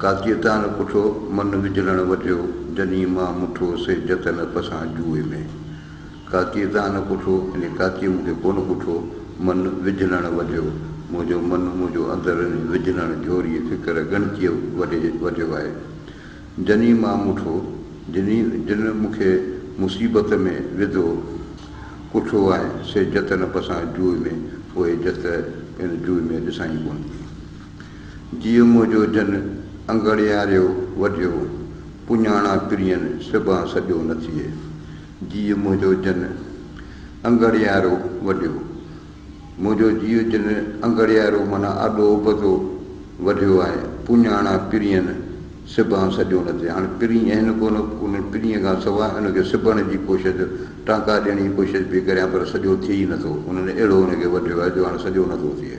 قاضيء تان پڇو، من وجھلڻ وجھيو، جنھين مان مٺو سي جتن پسان جوئي ۾. قاضيء تان پڇو، يعني قاضيء مون کي ڪونه پڇو، من وجھلڻ وجھيو، منھنجو من، منھنجو اندر انھيء وجھلڻ جھوريء فڪر ڳڻتيء وڏي وجھيو آھي. جنھين مان مٺو، جنھين، جنھن مون کي مصيبت ۾ وڌو، ڪٺو آھي، سي جتن پسان جوئي ۾، پوء جت ان جوئي ۾ ڏسان ئي ڪونه ٿي. جيء منهنجو جن انگڙياريو وڍيو، پڃاڻان پرين سبان سڄو نه ٿئي. جيء منهنجو جن انگڙيارو وڍيو. منهنجو جيء جن انگڙيارو معنيٰ آڏو ابتو وڍيو آهي. پڃاڻان پرين سبان سڄو نه ٿئي. هاڻ پرين اهن ڪونه، ان پرين کان سواء ان کي سبڻ جي ڪوشش، ٽانڪا ڏيڻ جي ڪوشش به ڪريان پر سڄو ٿئي ئي نه ٿو. انهن اهڙو ان کي وڍيو آهي جو هاڻ سڄو نه ٿو ٿئي.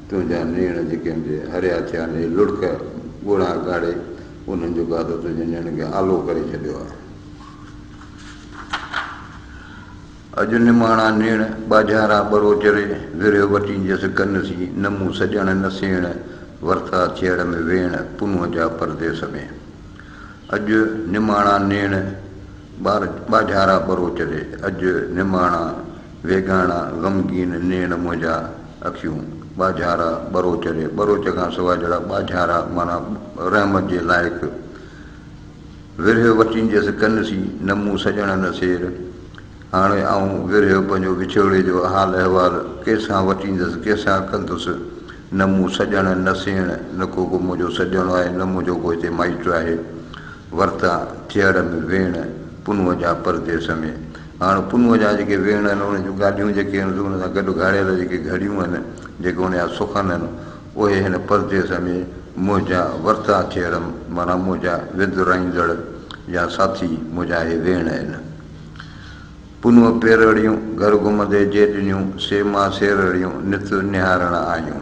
تنهنجا نيڻ جيڪي مجھي هريا ٿيا آهن، هي لڙڪ ڳوڙها ڳاڙي انهن جو گادو تنهنجي نيڻن کي آلو ڪري ڇڏيو آهي. اڄ نماڻا نيڻ ٻاجهارا ٻرو چري ورهيو وٽين جس گن سين نه مون سڄڻ نه سيڻ ورتا ٿيهڙ ۾ ويڻ پنهون جا پرديس ۾. اڄ نماڻا نيڻ ٻاجهارا ٻرو چري اڄ نماڻا. ويڳاڻا غمگين نيڻ منهنجا اکيون، ٻاجهارا ٻروچ ري، ٻروچ کان سواء جهڙا ٻاجهارا معنيٰ رحمت جي لائق، ورهيو وٺينديس ڪن سين، نه مون سڄڻ نه سير، هاڻي آئون ورهيو پنهنجو وڇوڙي جو حال احوال ڪيسان وٺيندس، ڪيسان ڪندس، نه مون سڄڻ نه سيڻ، نه ڪو ڪو منهنجو سڄڻو آهي، نه منهنجو ڪو هتي مائٽ آهي، ورتان ٿيهڙ ۾ ويڻ، پنهونء جا پرديس ۾، هاڻ پنهونء جا جيڪي ويهڻ آهن، ان جون گاڏيون جيڪي آهن، سو ان سان گڏ گهاڙيل جيڪي گهڙيون آهن، جيڪي ان جا سخن آهن، اهي هن پرديس ۾ منهنجا ورتا چيرم، معنيٰ منهنجا وندرائيندڙ يا ساٿي، منهنجا اهي ويهڻ آهن. پنهونء پيرڙيون گهر گهمندي جي ڏنيون، سي مان سيرڙيون نت نهارڻ آيون.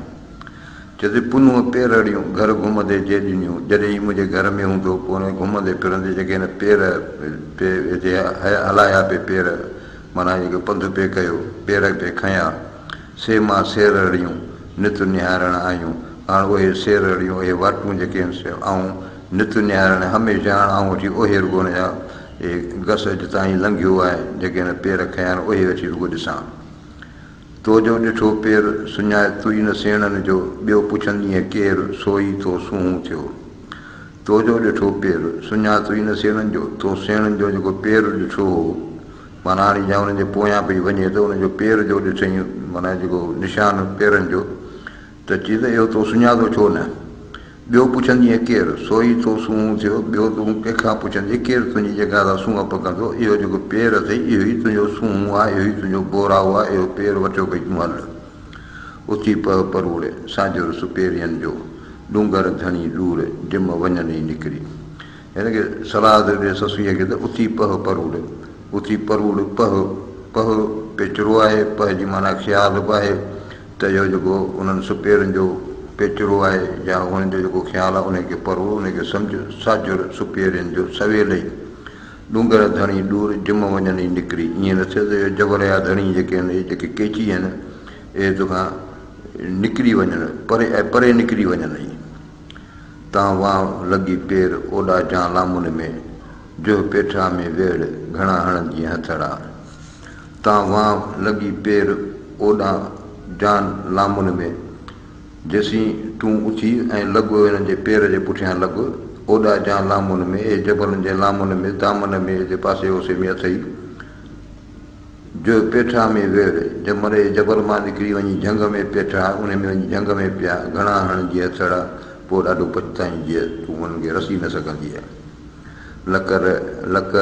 چيسي پنهون پيرهڙيون گهر گهمندي جي ڏنيون جڏهن هي منهنجي گهر ۾ هوندو پوء هن گهمندي ڦرندي جيڪي هن پير پي هتي هلايا پي پير معنيٰ جيڪو پنڌ پي ڪيو پير پي کنيا سي مان سيرهڙيون نت نهارڻ آيون آڻ اهي سيرهڙيون اهي واٽون جيڪي هن سي آئون نت نهارڻ هميشه آڻ آئون وٺي اهي رڳو هن جا اهي گس اڄ تائين لنگهيو آهي جيڪي هن پير کنيا آهن اهي وٺي رڳو ڏسان. تو جو ڏٺو پير، سڃائي تئي نه سيڻن جو، ٻيو پڇندينء ڪير، سوئي ٿو سونهون ٿيو. تو جو ڏٺو پير، سڃائي تئي نه سيڻن جو، تو سيڻن جو جيڪو پير ڏٺو هو، معنيٰ هاڻي جا انهن جي پويان پئي وڃي ته ان جو پير جو ڏٺئين، معنيٰ جيڪو نشان پيرن جو، ته چي ته اهو تو سڃاتو ڇو نه؟ ٻيو پڇندينء ڪير؟ سو ئي تو سونهون ٿيو، ٻيو تون ڪنهن کان پڇندين؟ ڪير تنهنجي جڳهه تان سونهن پڪندو؟ اهو جيڪو پير اٿئي، اهو ئي تنهنجو سونهون آ، اهو ئي تنهنجو بوراهو آ، اهو پير وٺيو پئي تون هل. اٿي پهه پروڙ، سانجهو رس پيرين جو، ڏونگر ڌڻي ڏور، ڊم وڃن ئي نڪري. هن کي صلاح ٿو ڏي سسئيء کي ته اٿي پهه پروڙ، اٿي پروڙ، پهه، پهه پيچرو آهي، پهه جي معنيٰ خيال به آهي. ته اهو جيڪو انهن سپيرن جو پيچرو آهي يا انهن جو جيڪو خيال آهي انهيء کي پرو، انهيء کي سمجهه، ساجهر سپيرين جو سويل ئي ڏونگر ڌڻي ڏور جم وڃن ئي نڪري، ايئن نه ٿئي ته اهي جبل يا ڌڻي جيڪي آهن، اهي جيڪي ڪيچي آهن، اهي تو کان نڪري وڃن، پري ۽ پري نڪري وڃن ئي. تان وان لڳي پير، اوڏا جان لامن ۾، جوهه پيٺا ۾ ويڙهه، گهڻا هڻندينء هٿڙا. تان وانء لڳي پير اوڏان جان لامن ۾، جيسين تون اٿي ۽ لڳ انهن جي پير جي پٺيان لڳ، اوڏا جان لامن ۾، اي جبلن جي لامن ۾، دامن ۾ ايندي پاسي اوسي ۾ اٿئي جو پيٺا ۾ ويڙ، جمن اي جبل مان نڪري وڃي جهنگ ۾ پيٺا، انهي ۾ وڃي جهنگ ۾ پيا، گهڻا هڻجين هٿڙا، پوء ڏاڍو پڇتائين جيئن تون انهن کي رسي نه سگهندينء. لڪ ر لڪ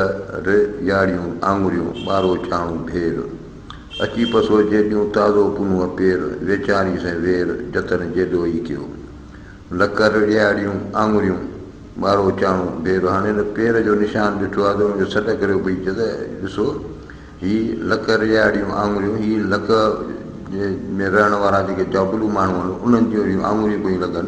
ر جاڙيون آڱريون ٻارو ڇاڻو ڀير. اچي پسو جيڏيون تازو پنهونء پير ويچارين سين وير جتن جيڏو ئي ڪيو. لڪ ر ڏياڙيون آڱريون ٻارو ڇاڻو ڀير هاڻي هن پير جو نشان ڏٺو آهي ته هن کي سڏ ڪريو پئي چئي ته ڏسو هي لڪ ر ڏياڙيون آڱريون هي لڪ ۾ رهڻ وارا جيڪي جابلو ماڻهو آهن انهن جون اهڙيون آڱريون پيون لڳن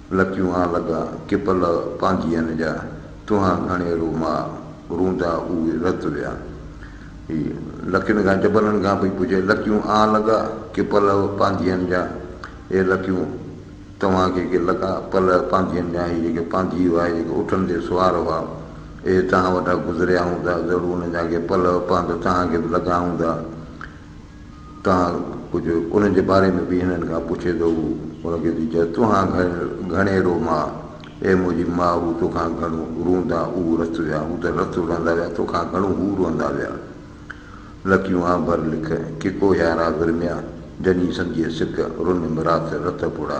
لتيون آن لڳا ڪي پل پانڌيئن جا، تنهان گهڻي رو ماء، روندا اهي رت ويا. هي لڪين کان جبلن کان پئي پڇي، لتيون آن لڳا ڪي پل پانڌيئن جا، اي لتيون! توهان کي ڪي لڳا پل پانڌيئن جا، هي جيڪي پانڌي هئا، هي جيڪي اٺن تي سوار هئا، اهي توهان وٽان گذريا هوندا، ضرور انهن جا ڪي پل پانڌ توهان کي به لڳا هوندا. توهان ڪجهه انهن جي باري ۾ به هنن کان پڇيندو هو. هن کيس به چيس، توهان گهڻي روء ماء! اي منهنجي ماء! هو توکان گهڻو روئندا اهو رت ويا، هو ته رت روئندا ويا، توکان گهڻو هو روئندا ويا. نه ڪيون آن ڀر لک، ڪي ڪوهيارا ورميا، جني سمجهي سڪ، رن مرات رت پڙا.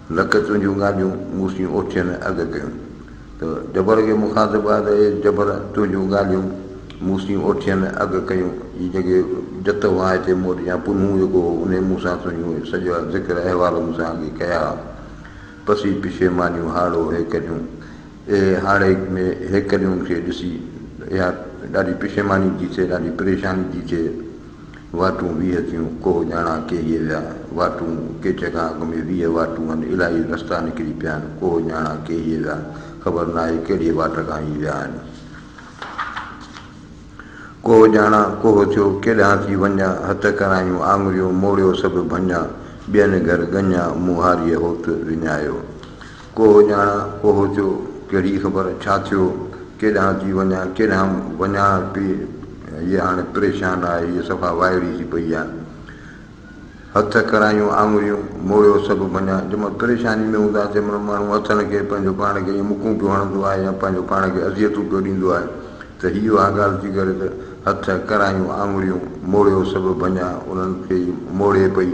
لڪ تنهنجون ڳالهيون مون سين اوچين اڳ ڪيون ته جبر کي مخاطب آ ته اي جبر تنهنجون ڳالهيون مون سين اوچين اڳ ڪيون جي جيڪي جت هئا هتي مون وٽ يا پنهون جيڪو هو انهي مون سان تنهنجون سڄا ذڪر احوال مون سان اڳي ڪيا ها پسي پشيمانيون هاڙهو هيڪليون اي هاڙهي ۾ هيڪليون کي ڏسي ته اها ڏاڍي پشيماني ٿي ٿئي ڏاڍي پريشاني ٿي ٿئي. واٽون ويهه ٿيون، ڪوهه ڄاڻا ڪيهي ويا، واٽون ڪيچ کان اڳ ۾ ويهه واٽون آهن، الاهي رستا نڪري پيا آهن، ڪوهه ڄاڻا ڪيهي ويا، خبر ناهي ڪهڙيء واٽ کان هي ويا آهن. ڪوهه ڄاڻا ڪوهه ٿيو، ڪيڏانهن ٿي وڃان، هٿ ڪرايون آڱريون، موڙيو سڀ ڀڃان، ٻين گهر ڳڃان، مون هاريء هوت وڃايو. ڪوهو ڄاڻان، ڪوهو چو، ڪهڙي خبر، ڇا ٿيو، ڪيڏانهن ٿي وڃان، ڪيڏانهن وڃان پئي، هيء هاڻي پريشان آهي، هيء صفا وائڙي ٿي پئي آهي. هٿ، ڪرايون آڱريون، موڙيو سڀ ڀڃان. جنهن مهل پريشاني ۾ هوندا، تنهن مهل ماڻهو هٿن کي پنهنجو پاڻ کي ائين مڪون پيو هڻندو آهي يا پنهنجو پاڻ کي اذيتون پيو ڏيندو آهي ته هيء اها ڳالهه ٿي ڪري ته هٿ، ڪرايون آڱريون، موڙيو سڀ ڀڃان، انهن کي ئي موڙي پئي.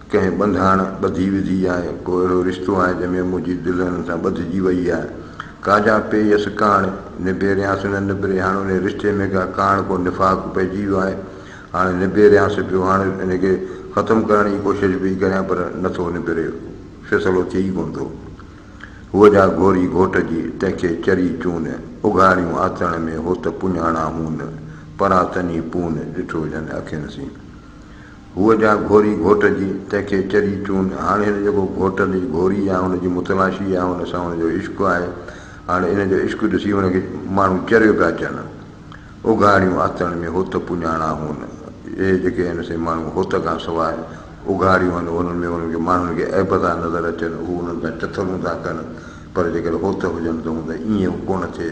ڪنهن ٻنڌاڻ ٻڌي وڌي آهي، ڪو اهڙو رشتو آهي، جنهن ۾ منهنجي دل هنن سان ٻڌجي ويئي آهي. ڪا جا پي يس ڪاڻ، نبيريانس نه نبري، هاڻ انهيء رشتي ۾ ڪا ڪاڻ، ڪو نفاق پئجي ويو آهي. هاڻ نبيريانس پيو، هاڻ ان کي ختم ڪرڻ جي ڪوشش به ئي ڪريان، پر نه ٿو نبري، فيصلو ٿئي ئي ڪونه ٿو. هوء جا گهوري گهوٽ جي، تنهن کي چري چون، اگهاڙيون آتڻ ۾، هو ته پڃاڻا هون، پرا تني پون، ڏٺو جن اکين سين. هوء جا گهوري گهوٽ جي، تنهن کي چري چون. هاڻي هن جيڪو گهوٽ اليج گهوري آ، هن جي متلاشي آ، هن سان هن جو عشق آهي. هاڻي ان جو عشق ڏسي هن کي ماڻهو چريو پيا چون. اگهاڙيون آتڻ ۾ هوت پڃاڻا هون. اهي جيڪي هن سين ماڻهو هوت کان سواء اگهاڙيون هن، انهن ۾ انهن کي ماڻهن کي عيب ٿا نظر اچن، هو انهن سان چٿرون ٿا ڪن، پر جيڪڏهن هوت هجن ته هون ته ائين به ڪونه ٿئي.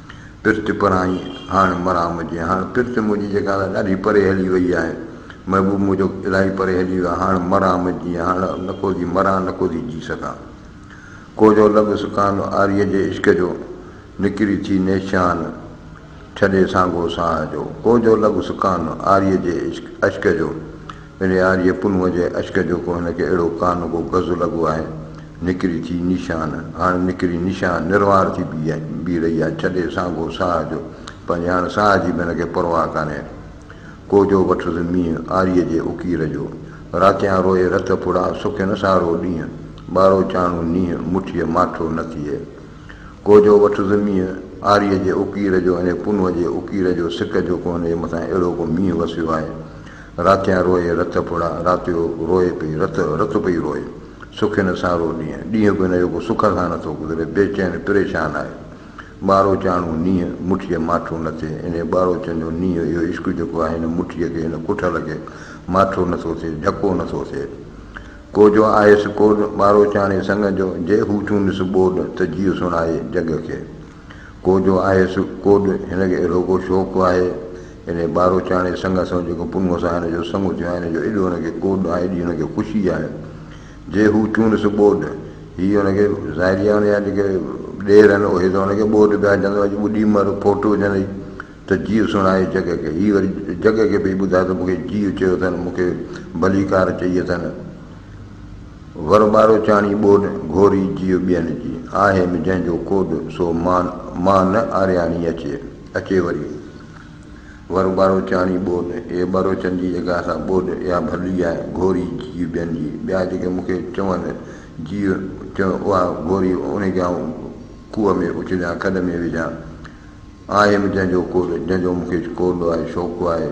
پرت پرائين هاڻ مران مجي. هاڻ پرت منهنجي جيڪا الاء ڏاڍي پري هلي وئي آهي. محبوب منهنجو الاهي پري هلي ويو آهي. هاڻ مران مجي. هاڻ نه ڪو ٿي مران نه ڪو ٿي جي سگهان. ڪوجهو لڳ سڪان عاريء جي عشق جو، نڪري ٿي نيشان ڇڏي سانگو ساهه جو. ڪوجهو لڳ سڪان عاريء جي عشق جو. پنهيار جي پنهونء جي اشڪ جو ڪو هن کي اهڙو ڪا نه ڪو گز لڳو آهي. نڪري ٿي نيشان، هاڻ نڪري نيشان نروار ٿي بيهي رهي آهي، ڇڏي سانگو ساهه جو، پنهنجي هاڻ ساهه جي به هن کي پرواهه ڪانهي. ڪوجهو وٺس مينهن، آريء جي اڪير جو. راتيان روئي رت ڦڙا، سکي نه سارو ڏينهن، ٻارو چاڻهو نينهن، مٺيء ماٺو نه ٿئي. ڪوجهو وٺس مينهن، آريء جي اڪير جو، انهيء پنهونء جي اڪير جو، سڪ جو ڪو هن جي مٿان اهڙو ڪو مينهن وسيو آهي، راتيان روئي رت ڦڙا، راتيو روئي پئي رت، رت پئي روئي. سکي نه سارو ڏينهن، ڏينهن به هن جو ڪو سک سان نه ٿو گذري، بي چين پريشان آهي. ٻاروچاڻو نينهن، مٺيء ماٺو نه ٿئي، انهيء ٻاروچن جو نينهن اهو عشق جيڪو آهي هن مٺيء کي، هن ڪٺل کي ماٺو نه ٿو ٿئي، جهڪو نه ٿو ٿئي. ڪو جو آيس ڪوڏ، ٻاروچاڻي سڱ جو، جي هو چونس ٻوڏ، ته جيء سڻائي جڳ کي. ڪو جو آهيس ڪوڏ، هن کي اهڙو ڪو شوق آهي، انهيء ٻارو چاڻي سڱ سان جيڪو پنهونء سان هن جو سڱ ٿيو آهي، ان جو ايڏو هن کي ڪوڏ آهي، ايڏي هن کي خوشي آهي، جي هو چونس ٻوڏ، هي هن کي ظاهري آهي ان جا جيڪي ڏير آهن، اهي ته هن کي ٻوڏ پيا چون، اڄ ٻڏي مر، ڦوٽ وجهندئي ته جيء سڻائي جڳ کي، هي وري جڳ کي پئي ٻڌائي ته مون کي جيء چيو اٿن، مون کي ڀليڪار چئي اٿن. ور ٻارو چاڻي ٻوڏ، گهوري جيء ٻين جي. آهيم جنهن جو ڪوڏ، سو مان مان نه آرياڻي اچي. اچي وري ور ٻارو چاڻي ٻوڏ، اي ٻروچن جي جڳهه سان ٻوڏ، اها ڀلي آهي، گهوري جيء ٻين جي. ٻيا جيڪي مون کي چون جيء، چون اها گهوري، انهي کي آئون کوهه ۾ اڇليان، کڏ ۾ وجهان. آهيم جنهن جو ڪوڏ، جنهن جو مون کي ڪوڏ آهي، شوق آهي.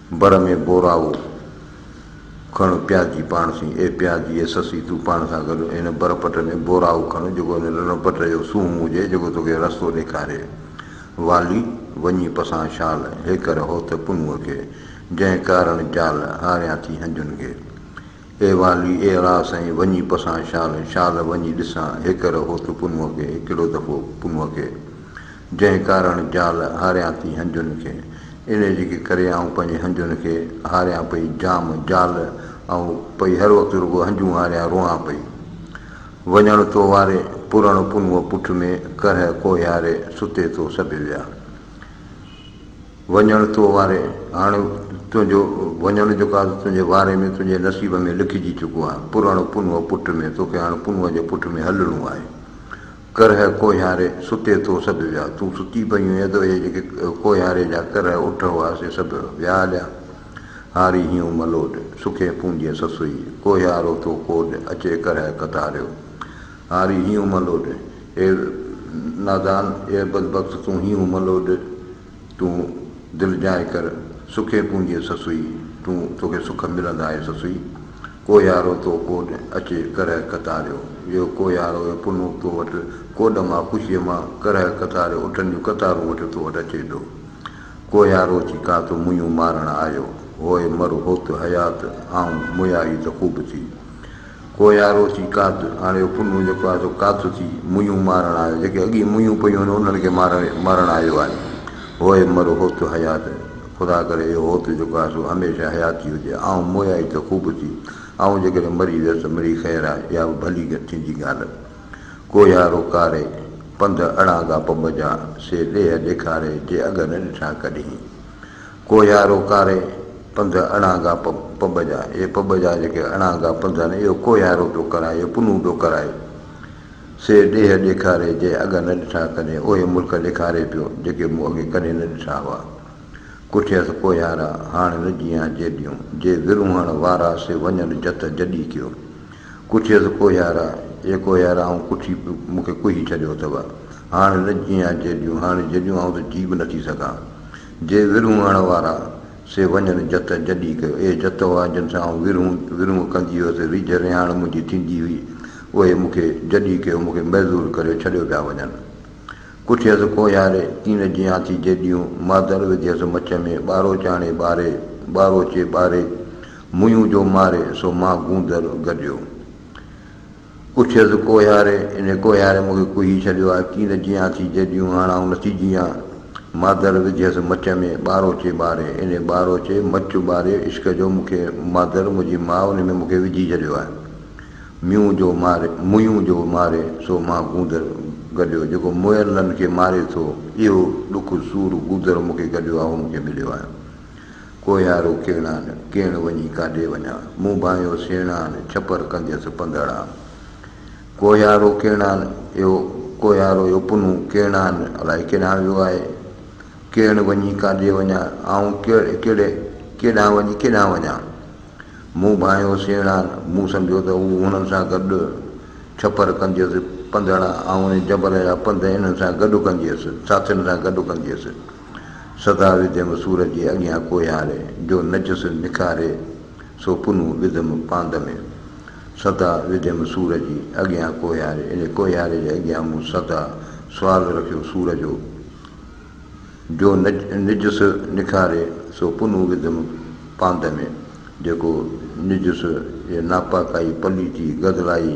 بر ۾ بوراوو کڻ پيازي پاڻ سين، اي پيازي، اي سسي، تون پاڻ سان گڏ هن بر پٽ ۾ بوراوو کڻ، جيڪو هن رڻ پٽ جو سونهن هجي، جيڪو توکي رستو ڏيکاري. والي، وڃي پسان شال، هيڪر هوت پنهونء کي، جنهن ڪارڻ جال، هاريان ٿي هنجن کي. اي والي، اي اڙاء سائين، وڃي پسان شال، شال وڃي ڏسان، هيڪر هوت پنهونء کي، هڪڙو دفعو پنهونء کي، جنهن ڪارڻ جال، هاريان ٿي هنجن کي، انهيء جي ڪي ڪري آئون پنهنجي هنجن کي، هاريان پئي جام، جال، آئون پئي هر وقت رڳو هنجون هاريان روئان پئي. وڃڻ تو واري، پرڻ پنهونء پٺ ۾، ڪرهه ڪوهياري، ستي ٿو سڀ ويا. وڃڻ تو واري هاڻ تنهنجو وڃڻ جيڪو آهي سو تنهنجي واري ۾ تنهنجي نصيب ۾ لکجي چڪو آهي پرڻ پنهونء پٺ ۾ توکي هاڻ پنهونء جي پٺ ۾ هلڻو آهي ڪرهه ڪوهياري ستي ٿو سڀ ويا تون ستي پئي هئين ته اهي جيڪي ڪوهياري جا ڪرهه اٺ هئا سي سڀ ويا هليا هاري هيون ملوڏ سکي پونجي سسئي ڪوهيارو ٿو ڪوڏ اچي ڪرهه ڪتاريو هاري هيون ملوڏ اي نادان اي بدبخت تون هيون ملوڏ تون دل جانء ڪر سکي پونجي سسئي، تون توکي سک ملندائي سسئي، ڪوهيارو تو ڪوڏ اچي ڪرهه ڪتاريو، يو ڪوهيارو يو پنهون تو وٽ ڪوڏ مان خوشيء مان ڪرهه ڪتاريو اٺن جون قطارون وٺي تو وٽ اچي ٿو، ڪوهيارو چي ڪا تو مونيون مارڻ آيو، هوء مر هوت حيات آئون مويا هي ته خوب ٿي، ڪوهيارو ٿي ڪاڌ آڻيو پنهون جيڪو آهي سو ڪاٿ ٿي ميون مارڻ آيو جيڪي اڳي ميون پيون آهن انهن کي مارڻ آيو آهي هوء مر هوت حيات خدا ڪري اهو هوت جيڪو آهي سو هميشه حيات ٿي هجي آئون مويائي ته خوب ٿي آئون جيڪڏهن مري ويس ته مري خير آهي اها به ڀلي ٿيندي ڳالهه ڪوهيارو ڪاري پنڌ اڙانگا پنب جا سي ڏيهه ڏيکاري جي اڳ نه ڏٺا ڪڏهين ڪوهيارو ڪاري پنڌ اڻانگا پٻ جا، اهي پٻ جا جيڪي اڻانگا پنڌ آهن، اهو ڪوهيارو پيو ڪرائي، اهو پنهون پيو ڪرائي. سي ڏيهه ڏيکاري جي اڳ نه ڏٺا ڪڏهن، اهي ملڪ ڏيکاري پيو، جيڪي مون اڳي ڪڏهن نه ڏٺا هئا. ڪٺيس ڪوهيارا، هاڻ نه جيان جيڏيون، جي ورونهڻ وارا سي وڃن جت جڏي ڪيو. ڪٺيس ڪوهيارا، اي ڪوهيارا آئون ڪٺي مون کي ڪوهي ڇڏيو اٿئو. هاڻ نه جيان جيڏيون، هاڻ جيڏيون آئون ته جي به نٿي سگهان. جي ورهون هڻ وارا، سي وڃن جت جڏي ڪيو. اهي جت هئا، جن سان آئون ورهون ورهون ڪندي هيس، ريجهه رهاڻ منهنجي ٿيندي هئي. اهي مون کي جڏي ڪيو، مون کي معزول ڪري ڇڏيو پيا وڃن. ڪٺيس ڪوهياري، ڪين جيان ٿي جيڏيون، مادر وڌيس مڇ ۾، ٻارو چاڻي ٻاري، ٻاروچي ٻاري، مويون جو ماري، سو مان گوندر گڏيو. پڇيس ڪوهياري، انهي ڪوهياري مون کي ڪوهي ڇڏيو آهي، ڪين نه جيئان ٿي جيڏيون هاڻ آئون نٿي جيئان. مادر وڌيس مچ ۾ ٻاروچي ٻاري، انهي ٻاروچي مچ ٻاري عشق جو مون کي مادر منهنجي ماء انهي ۾ مون کي وجهي ڇڏيو آهي. ميون جو ماري، ميون جو ماري سو مان گوندر گڏيو، جيڪو مئل لن کي ماري ٿو، اهو ڏک سور گوندر مون کي گڏيو آهي، اهو مون کي مليو آهي. ڪوهيارو ڪيڻان، ڪيڻ وڃي ڪاڏي وڃان، مون ڀانئيو سيڻان، ڇپر ڪنديس پنڌڙان. ڪوهيارو ڪيڻان، اهو ڪوهيارو اهو پنهون ڪيڻان الائي ڪيڏانهن ويو آهي. ڪيڻ وڃي ڪاڏي وڃان، آئون ڪهڙي ڪيڏانهن وڃي ڪيڏانهن وڃان. مون ڀانئيو سيڻان، مون سمجهيو ته هو هنن سان گڏ ڇپر ڪنديس پنڌڙان، آئون ان جبل جا پنڌ انهن سان گڏ ڪنديس، ساٿين سان گڏ ڪنديس. سڌاري جنگ سور جي اڳيان ڪوهياري، جو نجس نکاري سو پنهون وڌم پاند ۾. سدا وڌيم سور جي اڳيان ڪوهياري، ان ڪوهياري جي اڳيان مون سدا سوال رکيو سور جو، جو نجس نکاري سو پنهون وڌم پاند ۾، جيڪو نجس يا ناپاڪائي، پليتي، گدلائي،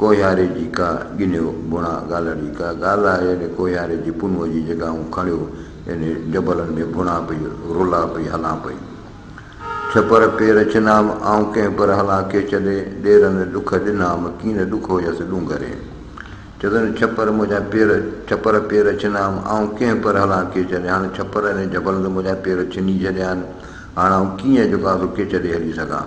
ڪوهياري جي ڪا ڳنيو ڀوڻا گالهه جي ڪا گالهه آهي اڙي ڪوهياري جي پنهونء جي جيڪا آئون کڻيو انهي جبلن ۾ ڀوڻا پئي رولا پئي هلان پئي ڇپر پير ڇنام آئون ڪنهن پر هلان ڪي ڇڏي ڏيرن ڏک ڏنام ڪين ڏک هيس ڏونگري چدن ڇپر منهنجا پير ڇپر پير ڇنام آئون ڪنهن پر هلان ڪي ڇڏي هاڻ ڇپر انهي جبلن تي منهنجا پير ڇني ڇڏيا آهن هاڻ آئون ڪيئن جيڪو آهي سو ڪي ڇڏي هلي سگهان.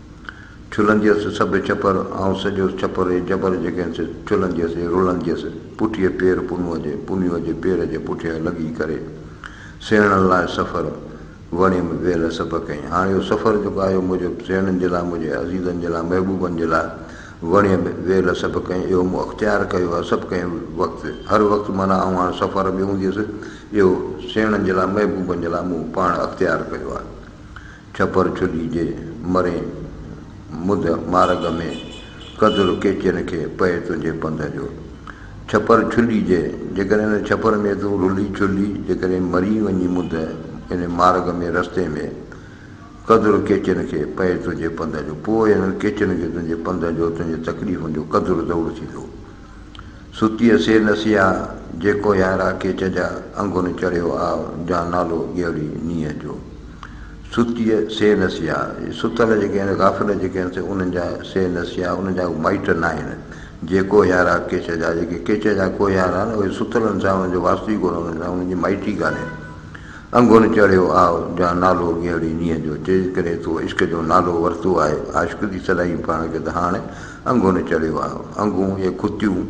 ڇلنديس سڀ ڇپر، آئون سڄو ڇپر اي جبر جي کين سي ڇلنديس اي رلنديس، پٺيئي پير پنهونء جي، پنهونء جي پير جي پٺيان لڳي ڪري، سيڻن لاء سفر، وڻيم ويل سڀ ڪئين، هاڻ اهو سفر جيڪو آيو منهنجو سيڻن جي لاء، منهنجي عزيزن جي لاء، محبوبن جي لاء، وڻيم ويل سڀ ڪئين، اهو مون اختيار ڪيو آهي، سڀ ڪئين وقت، هر وقت معنيٰ آئون هاڻ سفر ۾ هونديس، اهو سيڻن جي لاء، محبوبن جي لاء مون پاڻ اختيار ڪيو آهي. ڇپر ڇڏي جي مري مد مارڳ ۾، قدر ڪيچين کي پئي تنهنجي پنڌ جو. ڇپر ڇڏي جي، جيڪڏهن ان ڇپر ۾ تون رلي ڇلي جيڪڏهن مري وڃين مد ان مارڳ ۾، رستي ۾، قدر ڪيچين کي پئي تنهنجي پنڌ جو، پوء انهن ڪيچين کي تنهنجي پنڌ جو، تنهنجي تڪليفن جو قدر ضرور ٿيندو. ستي اسي نسيا جيڪو يارا ڪيچ جا انگن چڙهيو آء جان نالو ڳيهڙي نينهن جو ستي سي نسيا ستل جيڪي آهن غافل جيڪي آهن سي انهن جا سي نسيا انهن جا مائٽ ناهن جيڪو يارا ڪيچ جا جيڪي ڪيچ جا ڪو يار آهن اهي ستلن سان انهن جو واسطو ئي ڪونه انهن سان انهن جي مائٽي ڪانهي انگن چڙهيو آء جان نالو ڳيهڙي نينهن جو جيڪڏهن تو عشق جو نالو ورتو آهي عاشق ٿي سڏائين پاڻ کي ته هاڻ انگو نه چڙهيو آهي. انگون يا ڪتيون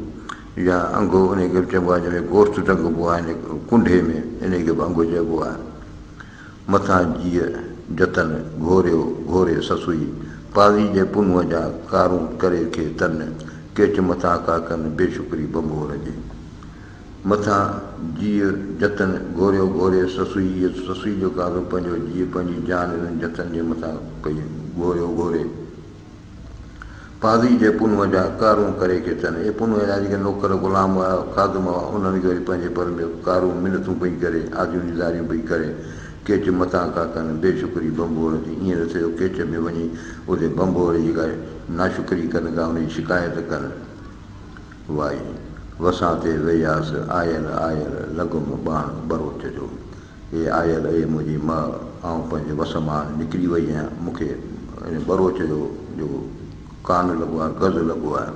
يا انگو انهيء کي به چئبو آهي، جنهن ۾ گوشت ٽنگبو آهي، هن ڪنڍي ۾ انهيء کي به انگو چئبو آهي. مٿان جيء جتن گهوريو، گهوري سسئي، پاڙي جي پنهونء جا ڪارون ڪري کي تن، ڪيچ مٿان ڪا ڪن، بي شڪري ڀنڀور جي. مٿان جيء جتن گهوريو، گهوري سسئي، يا سسئي جو ڪارو پنهنجو جيء، پنهنجي جان انهن جتن جي مٿان ڪئي، گهوريو، گهوري. قاضي جي پنهونء جا ڪارون ڪري کي ٿين. اهي پنهونء جا جيڪي نوڪر، غلام هئا، خادم هئا، انهن کي وري پنهنجي پر ۾ ڪارون منٿون پئي ڪري، آجيون نيزاريون پئي ڪري، ڪيچ متان ڪا ڪن، بي شڪري ڀنڀور جي، ايئن نه ٿئي جو ڪيچ ۾ وڃي اتي ڀنڀور جي ڪا ناشڪري ڪن، ڪا ان جي شڪايت ڪن. وائي! وسان تي وياس، آيل آيل، لڳم ٻاڻ ٻروچ جو. اي آيل اي منهنجي مئه، آئون پنهنجي وس مان نڪري وئي آهيان، مون کي ان ٻروچ جو جو ڪان لڳو آهي، گز لڳو آهي.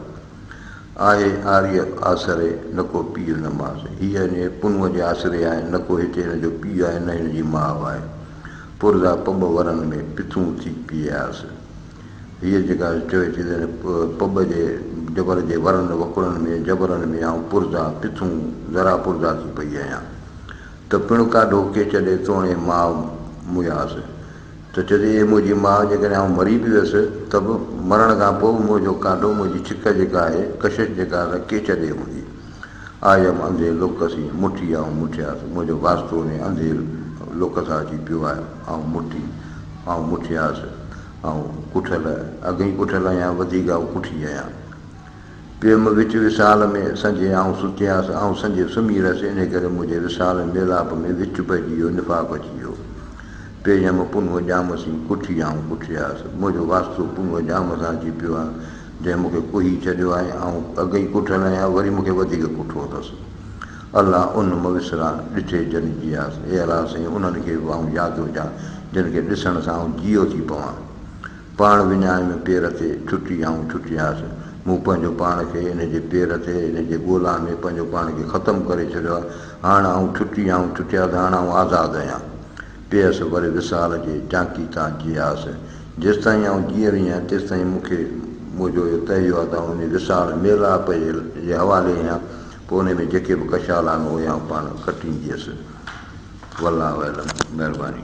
آهي آريء آسري، نه ڪو پيء نه ماء. هيء انهيء پنهونء جي آسري آهي، نه ڪو هتي هن جو پيء آهي، نه هن جي ماء آهي. پرزا پٻ ورن ۾ پٿون ٿي پيئياس. هيء جيڪا چوي ٿي ته پٻ جي جبر جي ورن وڪڙن ۾ جبرن ۾ آئون پرزا، پٿون، ذرا پرزا ٿي پئي آهيان. ته پڻ ڪا ڍوڪي چڏي توڻي ماء مياس ته چئي ٿي اي منهنجي ماء جيڪڏهن آئون مري به ويس ته به مرڻ کان پوء به منهنجو ڪانڊو منهنجي ڇڪ جيڪا آهي ڪشش جيڪا رکي ڇڏي هوندي آء هيم انڌي لوڪ سين مٺي آئون مٺياس منهنجو واسطو انهي انڌي لوڪ سان اچي پيو آهي آئون مٺي آئون مٺياس آئون ڪٺل اڳ ئي ڪٺل آهيان وڌيڪ آئون ڪٺي آهيان. پيم وچ وصال ۾ سنجهي آئون ستياس، آئون سنجهي سمهي رهيس، انهي ڪري منهنجي وصال ۽ ميلاپ ۾ وچ پئجي ويو، نفاق اچي ويو. پيم پنهونء ڄام سين ڪٺي آئون ڪٺياس. منهنجو واسطو پنهونء ڄام سان اچي پيو آهي، جنهن مون کي ڪهي ڇڏيو آهي. آئون اڳ ئي ڪٺل آهيان، وري مون کي وڌيڪ ڪٺو اٿس. الله ان مئوسران ڏٺي جن جياس. اي الله سائين! انهن کي به آئون ياد هجان، جن کي ڏسڻ سان آئون جيئو ٿي پوان. پاڻ وڃائي ۾ پير تي ڇٽي آئون ڇٽي آيس. مون پنهنجو پاڻ کي ان جي پير تي ان جي ڳولا ۾ پنهنجو پاڻ کي ختم ڪري ڇڏيو آ. هاڻ آئون ڇٽي آئون ڇٽي آس هاڻ آئون آزاد اهيان. پيس وري وصال جي چانڪي تان جي آس. جيستائين آئون جيئري اهيان تيستائين مون کي منهنجو اهو تهيو آ ته آئون انهي وصال، ميلاپ، جي حوالي اهيان پوء انهي ۾ جيڪي به ڪشال آهن اهي آئون پاڻ ڪٽينديس. والله اعلم. مهرباني.